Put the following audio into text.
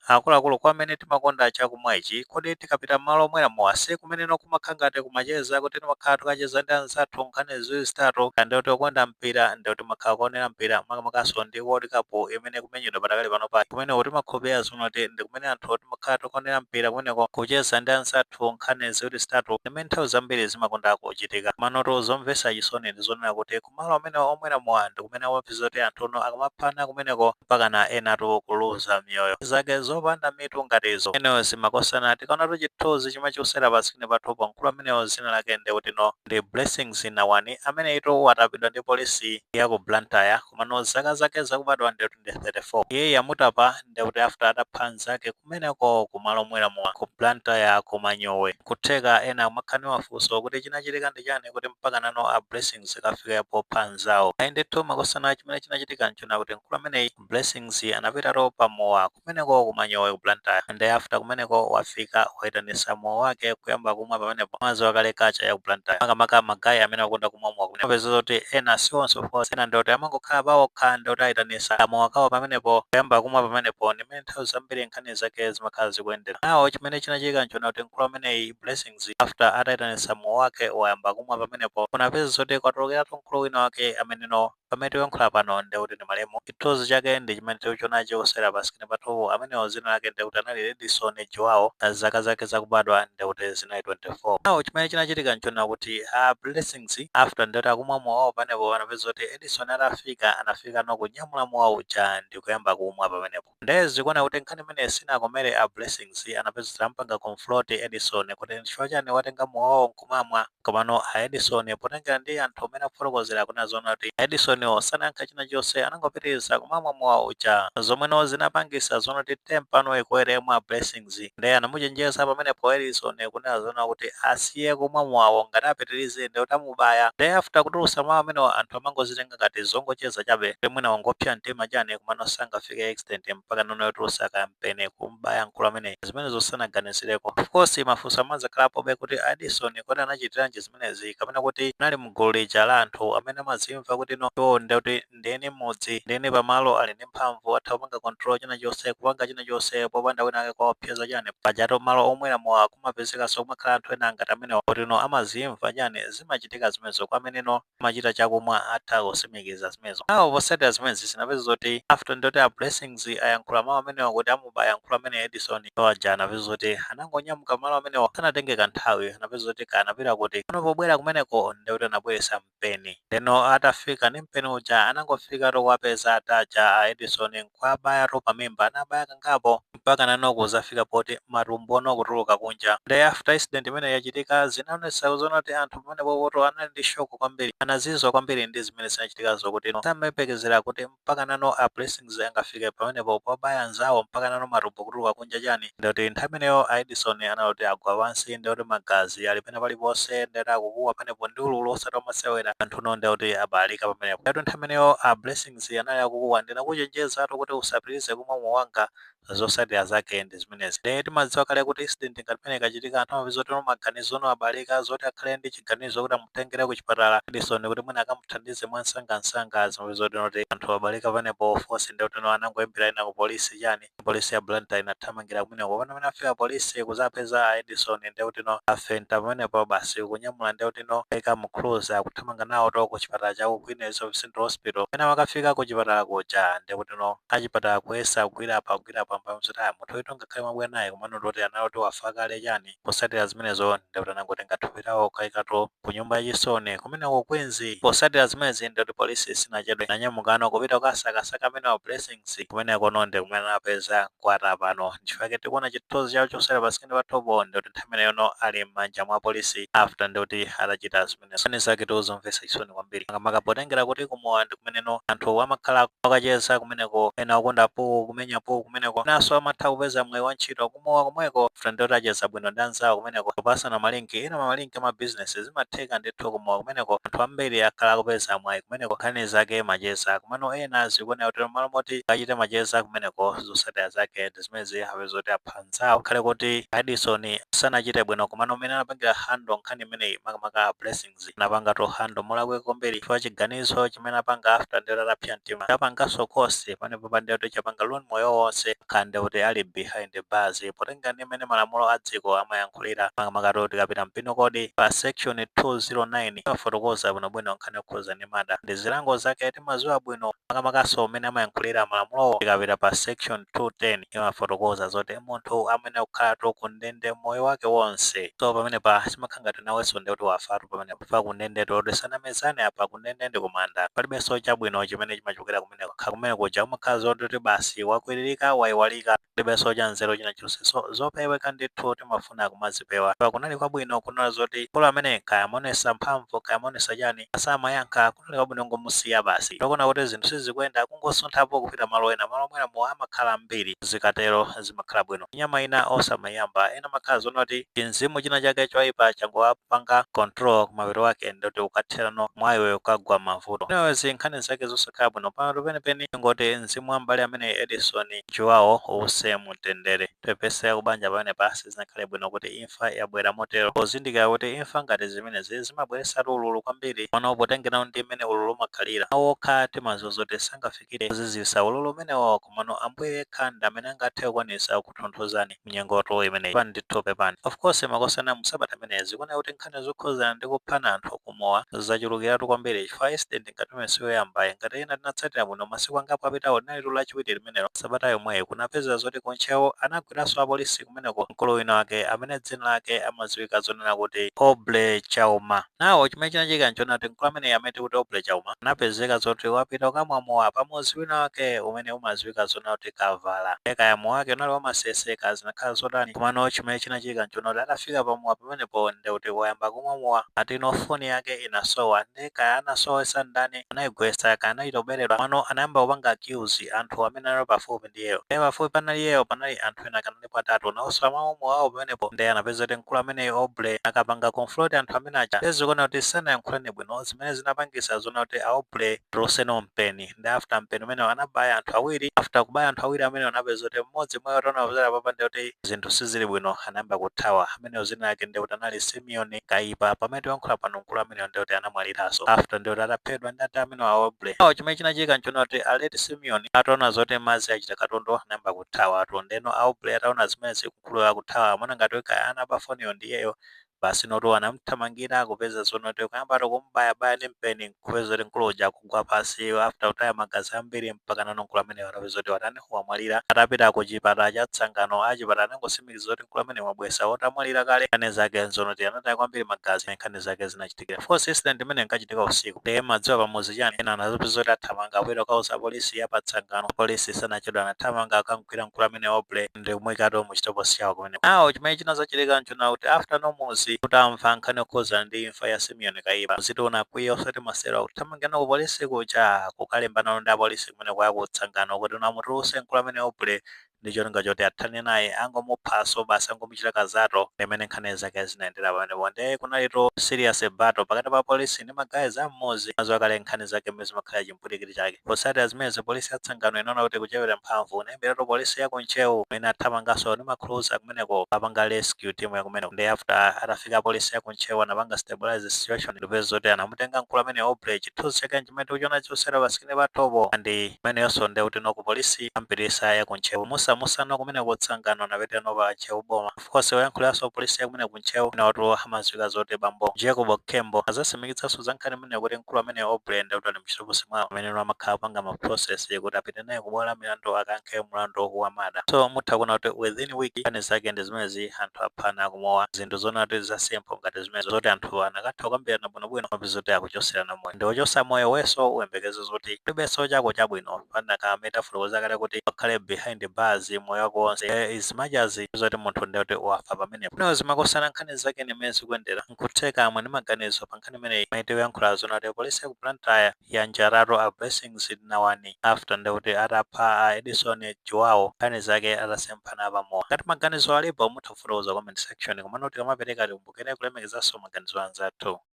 Akuluakulu kwa amene timakonda chakumwa ichi, kodi tikapita m'malo omwera mowa si kumeneno kumakhala ngati kumacheza kuti timakhala tikucheza ndi anzathu nkhani ziwiri zitatu ndiye kuti okonda mpira ndiye kuti timakhala kuonera mpira makamakanso ndi World Cup imene ikumenyedwa padakali panopa kumeneko timakhulupirira zoona kuti ndi kumene anthu timakhala tikuonera mpira kumeneko kucheza ndi anzathu nkhani ziwiri zitatu ndi mmene nthawi zambiri zimakonda kuchitika komanotu zomvetsa chisoni ndi zonena kuti kumalo amene omwera mowa ndi kumene umapeza kuti anthu no akamaphana kumeneko mpakana enatu kuluza miyoyo zake zopanda mitu ngati izo anyways makosana tikaonatu chithunzi chomwe chikusewera pa screen pathupo mkulu ameneyo dzina lake nde kuti no ndi blessings nawani amene ndithu watapidwa ndi polisi ya ku blantyre komano zaka zake zakubadwa nde kuti ndi 34 iyeyu amutapa nde kuti after atapha nzake kumeneko kumalo omwera mowa ku blantyre ku manyowe kutheka ena amakhala ndi mafunso kuti chinachitika ndi chani kuti mpaka nano a blessings akafike popha nzawo ayi ndithu makosana chimene chinachitika nchonena kuti mkulu ameneyi blessings anapitatu pamowa kumeneko ku manyowe ku blantyre nde after kumeneko wafika waitanisa mowa wake kuyamba kumwa pamenepo mwadziwa kale culture ya ku blantyre makamaka magayi amene akonda kumwa mowa kumene apeza zoti ena si onse of course ena ndoti amangokhala pawokha ndoti aitanisa kamowa kawo pamenepo kuyamba kumwa pamenepo ndi mmene amene nthawi zambiri nkhani zake zimakhala zikuyendera now chimene chinachitika nchonena kuti mkulu ameneyi, Blessings, after ataitanitsa mowa wake wayamba kumwa pamenepo, unapeza zoti kwatulukiratu mkulu wina wake ameneno pamene tikuyankhula pano ndiye kuti ndi malemu. Chithunzi chake ndi chimene tikuchiona chikusewera pa screen pathupo amenewo dzina lake ndiye kuti anali Edison Juwawo, zaka zake zakubadwa ndiye kuti zinali 24. Now chimene chinachitika nchonena kuti a Blessings after ndiye kuti akumwa mowa wawo pamenepo unapeza zoti Edison atafika anafikano kunyamula mowa uja ndikuyamba kumwa pamenepo nde zikuoneka kuti nkhani imeneyi sinakomere a Blessings anapeza kuti amupanga confront Edison kuti nchifukwa chani watenga mowawo nkumamwa komano a Edison potengera ndi anthu mmene akufotokozera akunena zoona kuti a Edisoniwo sanayankha china chilichonse anangopitiliza kumamwa mowa uja zomweno zinapangisa zoona kuti temper no ikwere mwa a Blessings ndiye anamuchenjeza pamenepo Edison kunena zoona kuti asiye kumwa mowawo ngati apitirize ndiye kuti amubaya ndiye after kutulutsa mawu amenewa anthu amangozitenga ngati zongocheza chabe kuti mwina wangopsa mtima chani komano sangafike extent mpakana no yotulutsa kampeni kum'baya mkulu ameneyi zimenezo sanaganizireko. Of course mafunso amadzakhalapobe kuti a Edison kodi anachitiranji zimenezi kapena kuti anali mgulu lija la anthu amene amadzimva kuti no iwowo ndiye kuti ndi eni mmudzi ndi eni pamalo ali ndi mphamvu atha kupanga control china chonse kupanga china chonse popanda wina wake kuwaopseza chani pajatu malo omwera mowa kumapezekaso kumakhala anthu ena ngati amenewa poti no amazimva chani zimachitika zimenezo kwa ameneno amachita chakumwa atha kusimikiza zimenezo now potsatira zimenezi unapeza zoti after ndoti a blessings ayankhula mawu amenewa kuti amubaya mkulu ameneyu edison iwo aja anapeza zoti anangonyamuka malo amenewa sanatenge kanthawi anapeza zoti kaya anapita kuti no pobwera kumeneko ndekuti anabweresa mpeni. Ndeno atafika ndi mpeni uja anangofikatu kuwapeza ata a Edison nkuwabayato pamimba anabaya kangapo mpaka nano kuzafika poti matumbono kutuluka kunja. Nde after incident imeneyi yachitika zinaonesa zoona kuti anthu pamenepopoto anali ndi shock kwambiri. Anazizwa kwambiri ndi zimene zinachitikazo kutino samayembekezera kuti mpaka nano a blessings angafike pamenepo pobaya anzawo mpaka nano matumbo kutuluka kunja chani ndekuti nthawi imeneyo a edison anali kuti agwa pansi ndekuti magazi ali pena paliponse ndekuti akukuwa pamenepo ndi ululu osati omasewera anthuno ndekuti abalalika pamenepo ndekuti nthawi imeneyo a blessings anali akukuwa ndinakuchenjezatu kuti usapitilize kumwa mowa wanga zosatira zake ndi zimenezi nde timadziwa kale kuti incident ngati imene ikachitika anthu amapeza kuti maganizono abalalika zoti akhale ndi chiganizo kuti amutengere ku chipatala Edison kuti mwina akamuthandize mwa nsangansanga zimapeza kuti noti anthu abalalika pamenepo of course ndi kuti no anangoyimbira ena ku polisi chani polisi ya Blantyre inathamangira kumeneko pano pamene afika polisi kuzapeza a edison ndi kuti no afenta pamenepo basi kunyamula ndi kuti ino aika mu cruiser kuthamanga nawo to ku chipatala cha ku Queen Elizabeth Central Hospital pamene akafika ku chipatala kuja ndekutino achipatala kuyesa kugwira apa kugwira apa mpamwe zoti ah munthu uyu ngakhale mwabwera naye komano toti anali kuti wafa kale chani posatira zimenezo ndekuti anangotenga thupi lawo kukaika to ku nyumba yachisoni kumeneko ku Queens posatira zimenezi ndekuti polisi sinachedwe nanyamukano kupita kukasakasaka amenewa a blessings kumenekono ndikumene anapeza kwata apano ndichifukwa chake tikuona chithunzi chawo choonetsera pa screen pathopo ndikuti nthawi imeneyono ali m'manja mwa polisi after ndikuti atachita zimenezo nkhani zake ndi zomvesa chisoni kwambiri makamaka potengera kuti kumowa ndi kumeneno anthu amakhala akucheza kumeneko ena okonda pool kumenya pool kumeneko enaso amatha kupeza mwayi wa ntchito kumowa komweko after ndikuti acheza bwino ndi anzawo kumeneko kupasana malinki ena malinki a ma business zimatheka ndithu kumowa kumeneko anthu ambiri akhala akupeza mwayi kumeneko nkhani zake macheza komano ena zikuoneka kuti mmalo moti achite macheza kumeneko zotsatira zake ndi zimenezi apeza kuti apha anzawo ngakhale kuti Edison sanachite bwino komano mmene anapangira handle nkhani imeneyi makamaka a Blessings anapangatu handle molakwika kwambiri chifukwa chiganizo chimene anapanga after ndikuti atapsa mtima chapanganso cost pamenepo pandiye kuti chapanga ruin moyo wonse akhala ndekuti ali behind bars malinga ndi mmene malamulo a dziko amayankhulira makamakatu tikapita mu penal code pa section 209 imafotokoza bwinobwino nkhani yokhuza ndi murder ndi zilango zake timaziwa bwino makamakanso mmene amayankhulira malamulowo tikapita pa section 210 imafotokoza zoti munthu amene kukhalatu ku ndende moyo wake wonse so pamenepa zimakhala ngati nawenso ndi kuti wafatu pamenepa kundende to tisanamizane apa kundende ndi kumanda palibenso chabwino chimene chimachokera kumeneko kha kumene kuja umakhala zoti basi wakwiririka waiwalika Palibenso chanzeru china chilichonse so zopeweka ndithu timafuna kumazipewa kunali kwabwino kunena zoti mkulu amene kaya amaonesa mphamvu kaya amaonesa chani asamayankha kunali kwabwino kungomusiya basi tikuona kuti zinthu sizikuyenda kungosunthapo kupita malo ena malo omwera mowa amakhala ambiri zikatero zimakhala bwino nyama ina osamaiyamba ena amakhala zonoti chinzimu china chake choipa changowapanga control kumapeto kwake ndoti ukatherano mwa iwe ukagwa mmavuto anyways nkhani zake zosakhala bwino pamapeto penipeni tingoti mzimu wa m'bale ameneyi Edison João, uuse mu mtendere. Tipepese akubanja pamenepa, sizinakhale bwino kuti imfa yabwera motero. Pozindikira kuti imfa ngati zimenezi zimabweretsatu ululu kwambiri, komano potengera ndi mmene ululu umakhalira, mawu okha timaziwa zoti sangafikire kuzizisa ululu umenewo, komano Ambuye yekha ndi amene angathe kukwanisa kukutonthozani mu nyengotu imeneyi. Pepani ndithu pepani. Of course makosana mu sabata imeneyi zikuoneka kuti nkhani zokhuzana ndi kuphana anthu ku mowa zachulukiratu kwambiri chifukwa incident. ngati imeneyo si yoyambayi. Ngati ena tinatsatira bwino masiku angapo apitawo linalitu Lachiwiri limenelo. Sabata yomweyo kunapezeka zoti ku Ntcheu anagwiranso apolisi kumeneko mkulu wina wake amene dzina lake amadziwika zonena kuti Aubrey Chauma. Nawo chimene chinachitika n'chonena kuti mkulu ameneyu amene tikuti Aubrey Chauma anapezeka zoti wapita kukamwa mowa pamudzi wina wake umene umadziwika zonena kuti Kavala. Ndiye kaya mowa wake unali wa masese kaya zinakhala zotani komano chimene chinachitika n'chonena kuti atafika pamowa pamenepo ndiye kuti wayamba kumwa mowa ati no foni yake inasowa. nde kaya anasowesa ndani, anayigwesa, kaya anachita kubeledwa, komano anayamba kupanga accuse anthu amene anali pafupi ndi iyeyo, nde pafupi panali iyeyo panali anthu ena kanalipo atatu, nawonso amamwa mowawo pamenepo, nde anapeza kuti mkulu ameneyu Aubrey anakapanga confront anthu amene aja, nde zikuwoneka kuti sanayankhulane bwino, zimene zinapangisa zonena kuti a Aubrey atuluseno mpeni. nde after mpeni umenewo anabaya anthu awiri after kubaya anthu awiri amenewo anapeza kuti mmodzi mwa iwo ataona zoti apapa ndi kuti zinthu sizili bwino anayamba kuthawa amenewo dzina lake ndi kuti anali simeon kaipa pamene tikuyankhula pano mkulu amenewo ndi kuti anamwaliranso after ndi kuti ataphedwa ndi ati amenewa a aubrey awo chimene chinachitika nchonena kuti a late simeon ataona zoti madzi achita katondo anayamba kuthawa ati ndeno a aubrey ataona zimenezi mkulu akuthawa amaona ngati kuti kaya anaba foniyo ndiyeyo Basi notu anamthamangira kupeza zonoti kuyambatu kumbayabaya ndi mpeni nkupeza kuti mkulu uja kugwa pansi after kutaya magazi ambiri mpakana no mkulu ameneyo anapeza kuti watani wamwalira atapita ku chipatala cha tsangano achipatala anangosimikiza kuti mkulu ameneyu mwabweresa atamwalira kale nkhani zake nzonoti anataya kwambiri magazi ndi nkhani zake zinachitikira of course incident imene inkachitika usiku ndiye mumadziwa pamudzi chani ena anazapeza kuti athamanga kupita kukauza polisi ya pa tsangano polisi sanachedwa anathamanga akamgwira mkulu amene aubrey ndikumuikatu mu chitokosi chawo kumeneko nawo chimene chinazachitika nchonena kuti after no muzi utamva nkhani yokhuzana ndi imfa ya simeon kaipa muzitu unakwiya osati masero akuthamangirana ku polisi kuja kukalimbanano ndi apolisi kumeneko a ku tsangano kuti no amutuluse mkulu ameneyu aubrey ndi cholinga choti athane naye angomuphaso basi angomuchita kazato ndimene nkhani zake zinayendera pamenepo nde kunalitu serious battle pakati pa polisi ndi ma guys a mmuzi mumaziwa kale nkhani zake mmene zimakhala mphwirikiti chake. Potsatira zimenezo, polisi ya Tsangano inaona kuti ikuchepera mphamvu nayimbiratu polisi ya ku Ntcheu imene inathamanganso ndi ma cruiser kumeneko kukapanga rescue team ya kumeneko nde after atafika apolisi a ku Ntcheu anapanga stabilize situation ndikupeza zoti anamutenga mkulu ameneyo Aubrey chithunzi chake nchimene tikuchiona choncho pa screen pathopo and imeneyonso nde kuti no ku polisi ampitisa ya ku Ntcheu musamusano kumeneko Tsangano anapitira no pa Ntcheu boma. Of course woyankhuliranso apolisi ya kumene ku Ntcheu inayotu amadziwika zoti Bambo Jacob Khembo atsimikizanso za nkhani imeneyo kuti mkulu ameneyo Aubrey ndi kuti ali mchitokosi mwawo mmene no amakhala kupanga ma process kuti apite naye ku bwalo la milandu akayankhe mlandu wa murder. So mutha kuona kuti within week nkhani zake ndi zimenezi anthu aphana ku mowa zinthu zoona kuti za simple ngati zimenezo zoti anthu akanatha kukambirana bwinobwino mupeza kuti akuchotserana moyo. Ndiwe wochotsa moyo wenso uyembekeze zoti kulibenso chako chabwino pa nkhani imene tafotokoza kale kuti ukhale behind bars moyo wako wonse Eh, as much as zoti munthu ndi kuti wafa pamenepo no zimakhozana nkhani zake ndi mmene zikuyendera nkutheka muli ndi maganizo pa nkhani imeneyi imene tikuyankhula zona kuti polisi ya ku blantyre yanjaratu a blessings nawani after ndi kuti atapha a edison joao nkhani zake atasemphana pamowa ngati maganizo alipo mutha kufotokoza comment section komano tikamapereka tikumbukire kulemekezanso maganizo anzathu